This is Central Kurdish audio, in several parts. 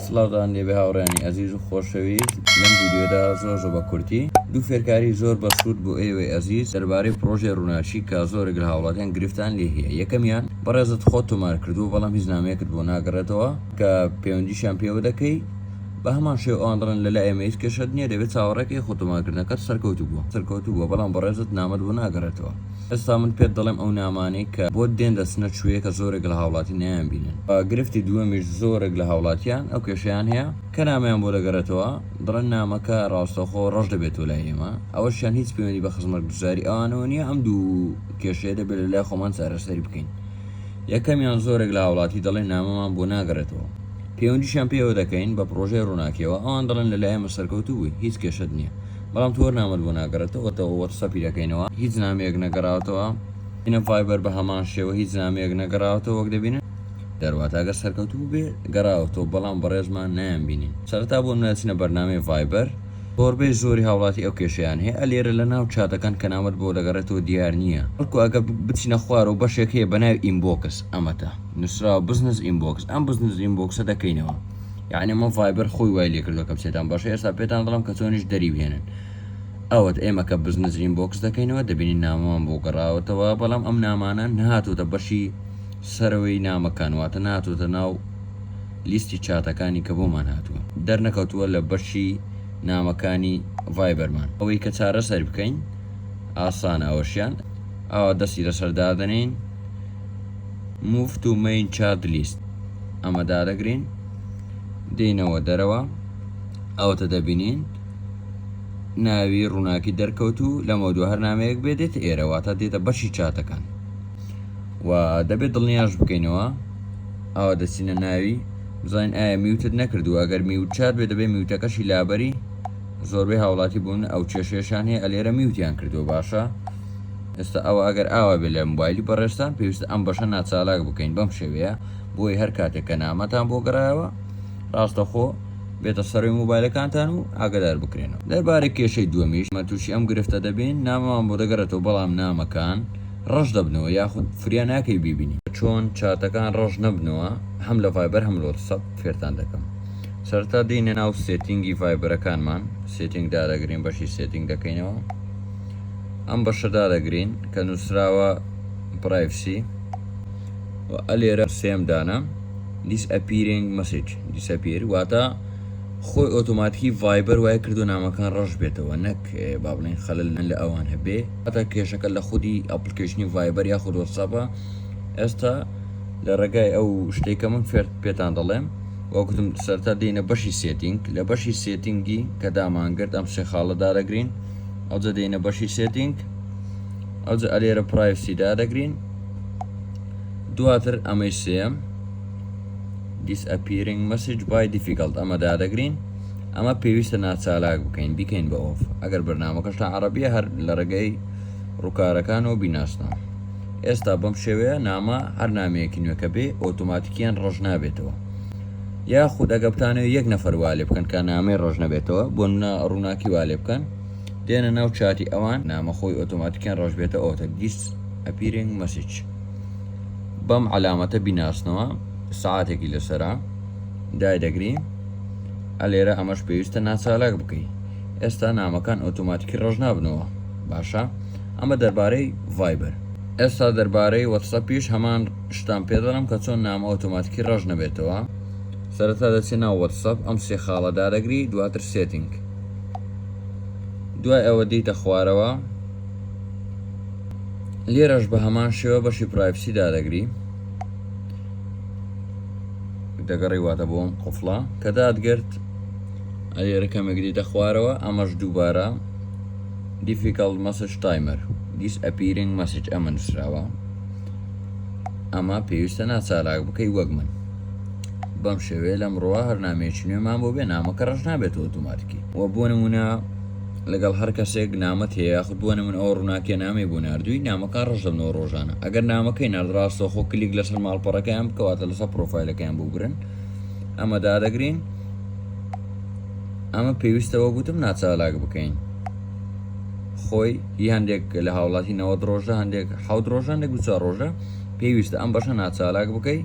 سڵاوتان لێبێ هاوڕێیانی ئەزیز و خۆشەویست لەم ڤیدیۆدا زۆر زۆر بە کورتی دوو فێرکاری زۆر بەسوود بۆ ئێوەی ئەزیز دەربارەی پڕۆژەی ڕووناکی کە زۆرێک لە هاوڵاتیان گرفتان لێ هەیە یەکەمیان بەڕێزت خۆت تۆمار کردووە بەڵام هیچ نامەیەکت بۆ ناگەڕێتەوە کە پەیوەندیشیان پێوە دەکەی بە هەمان شێوە ئەوان دەڵێن لە لای ئێمە هیچ کێشەت نییە دەبێت چاوەڕێکەی خۆ تۆمارکردنەکەت سەرکەوتوو بووە سەرکەوتوو بووە بەڵام بەڕێزت نامەت بۆ ناگەڕێتەوە ئێستا من پێت دەڵێم ئەو نامانەی کە بۆت دێن دەچنە چوویەکە زۆرێک لە هاوڵاتی نایانبینن و گرفتی دووەمیش زۆرێک لە هاوڵاتیان ئەو کێشەیان هەیە کە نامەیان بۆ دەگەرێتەوە دەڵێن نامەکە ڕاستەوخۆ ڕەش دەبێتەوە لای ئێمە ئەوەشیان هیچ پەیوەندی بە خزمەتگوزاری ئەوانەوە نییە ئەم دوو کێشەیە دەبێت لە لای خۆمان چارەسەری بکەین یەکەمیان زۆرێک لە هاوڵاتی دەڵێن نامەمان بۆ ناگەرێتەوە پەیوەندیشیان پێوە دەکەین بە پڕۆژەی ڕووناکیەوە ئەوان دەڵێن لە لای ئێمە سەرکەوتوو بووی هیچ کێشەت نییە بەڵام تۆر نامەت بۆ ناگەڕێتەوەتەوە وەک سەفی دەکەینەوە هیچ نامەیەک نەگەڕاوتەوە ئینە ڤایبەر بە هەمان شێوە هیچ نامەیەک نەگەڕاوتەوە وەک دەبینن دەرواتە گەر سەرکەوتوو بێ گەڕاوەتەوە بەڵام بەڕێزمان نایان بینین سەرتا بۆ نوێچنە بەرنامەی ڤایبەر زۆربەی زۆری هاوڵاتی ئەو کێشیان هەیە ئەلێرە لە ناو چاتەکان کە نامەت بۆ دەگەڕێتەوە دیار نییە بەڵکو ئەگەر بچینە خوارەوە بەشێک هەیە بە ناوی ئینبۆکس ئەمەتە نووسراوە بزنس ئینبۆکس ئەم بزنس ئینبۆکسە دەکەینەوە یعنی مە ڤایبەر خۆی وای لێکردوە کە بچێتان باشە ئێستا پێتان دڵم کە چۆنیش دەری بهێنن ئەوەت ئێمە کە بزنزرین بۆکس دەکەینەوە دەبینین نامەوان بۆ گەڕاوەتەوە بەڵام ئەم نامانە نهاتۆتە بەشی سەرەوەی نامەکان واتە ناتۆتە ناو لیستی چاتەکانی کە بۆمان هاتووە دەرنەکەوتووە لە بەشی نامەکانی ڤایبەرمان ئەوەی کە چارە سەر بکەین ئاسان ئەوەشیان ئاوا دەستی لەسەر دادنین Move to Main Child List ئەمە دادەگرین دێینەوە دەرەوە ئەوەتە دەبینین ناوی ڕووناکی دەرکەوت و لەمە دو هەر نامەیەک بێ دێت ئێرەوە تا دێتە بەشی چاتەکان و دەبێت دڵنیاش بکەینەوە ئەوە دەچینە ناوی بزانین ئایا میوتت نەکردووە ئەگەر میوت چات بێ دەبێت میوتەکەشی لابەری زۆربەی هاوڵاتی بوون ئەو کێشێشان هەیە ئەلێرە میوتیان کردووە باشە ئێستا ئەوە ئەگەر ئاوا بێت لە مۆبایلی بەڕێزتان پێویستە ئەم بەشە ناچالاک بکەین بەم شێوەیە بۆی هەر کاتێک کە نامەتان بۆ گەڕایەوە ڕاستەخۆ بێتە سەروی مۆبایلەکانتان و ئاگدار بکرێنەوە دەربارەی کێشەی دووەمیش مە تووشی ئەم گرفتە دەبین نامەمان بۆ دەگەڕێتەوە بەڵام نامەکان ڕەش دەبنەوە یاخود فریا ناکەی بیبینی چۆن چاتەکان ڕەش نەبنەوە هەم لە ڤایبەر هەم لە وەتسەپ فێرتان دەکەم سەرتا دێینە ناو سێتینگی ڤایبەرەکانمان سێتینگ دادەگرین بەشی سێتینگ دەکەینەوە ئەم بەشە دادەگرین کە نووسراوە پرایڤسی و ئە لێرە سێم دانە disappearing message disappear واتە خۆی ئۆتۆماتیکی ڤایبەر وای کردو نامەکان ڕەش بێتەوە نەک با بڵێن خەلل نەن لە ئەوان هەبێ ئەتا کێشەکە لە خودی ئەپلیکیشنی ڤایبەر یاخود وەسەپە ئێستا لە ڕێگای ئەو شتێکە من فێرت پێتان دەڵێم وەکوتم سەرتا دێنە بەشی سێتینگ لە بەشی سێتینگی کە دامانگرت ئەم سێ خاڵە دارەگرین ئەوجە دێنە بەشی سێتینگ ئەوجە ئەلێرە پرایسی دادەگرین دواتر ئەمەی سێم disappearing message by difficult ئەمە دادەگرین ئەمە پێویستە ناچالاک بکەین بیکەین بە ئۆف ئەگەر بەرنمەکەش تا عربیە هەر لە ڕێگەی ڕووکارەکانەوە بیناسنەوە ئێستا بەم شێوەیە نامە هەر نامەیەکی نوێکە بێ ئۆتۆماتیکیان ڕژ نابێتەوە یاخود ئەگە بتانەوێت یەک نەفەر وا لێ بکەن کە نامەی ڕەش نەبێتەوە بۆ نمونە ڕووناکی وا لێ بکەن دێنە ناو چاتی ئەوان نامە خۆی ئۆتۆماتیکیان ڕەش بێتە ئۆتە گیس ئەپیرنگ مەسیج بەم عەلامەتە بیناسنەوە سعاتێکی لەسرە دای دەگری ئەلێرە ئەمەش پێویستە ناچالاک بکەی ئێستا نامەکان ئۆتۆماتیکی ڕەش نابنەوە باشە ئەمە دەربارەی ڤایبەر ئێستا دەربارەی وەتسە پیش هەمان شتان پێ دەڵێم کە چۆن نامە ئۆتۆماتیکی ڕەش نەبێتەوە سەرەتا دەچێ ناو وەتسەپ ئەم سێ خاڵە دادەگری دواتر سێتینگ دوای ئەوە دیتە خوارەوە لێرەش بە هەمان شێوە بەشی پرایپسی دادەگری دەگەڕی واتە بۆم قفڵە کە دادگرت ئەلێرە کەمێک دیتە خوارەوە ئەمەش دووبارە دیفیکەڵ مەسج تایمەر دیس ئەپیرنگ مەسج ئەمە نووسراوە ئەمە پێویستە ناچاراک بکەی وەک من بەم شێوەیە لەم ڕۆوا هەرنامێکی نوێمان بۆ بێ نامەکە ڕژ نابێت ئۆتوماتکی و بۆ نمونە لەگەڵ هەر کەسێک نامەت هەیە یاخود بۆ نمون ئەو ڕووناکیە نامی بۆ نردووی نامەکان ڕژە نۆ ڕۆژانە ئەگەر نامەکەی نردڕاستە خۆ کلیک لەسەر ماڵپەڕەکەیان بکەواتە لەسەر پرۆفایلەکەیان بگرن ئەمە دادەگرین ئەمە پێویستەوە گوتم ناچالاک بکەین خۆی هی هەندێک لە هاوڵاتی نەوەد ڕۆژە هەندێک حەوت ڕۆژە هەندێک دوچار ڕۆژە پێویستە ئەم بەشە ناچالاک بکەی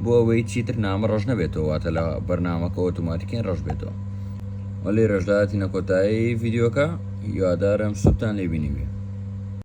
بۆ ئەوەی چیتر نامە ڕەش نەبێتەوە واتە لە بەرنمەکە ئۆتوماتیکین ڕەش بێتەوە وەلی ڕێژداتی نەکۆتایی یددیوەکە یوادارم سوودتان لێبینی بێ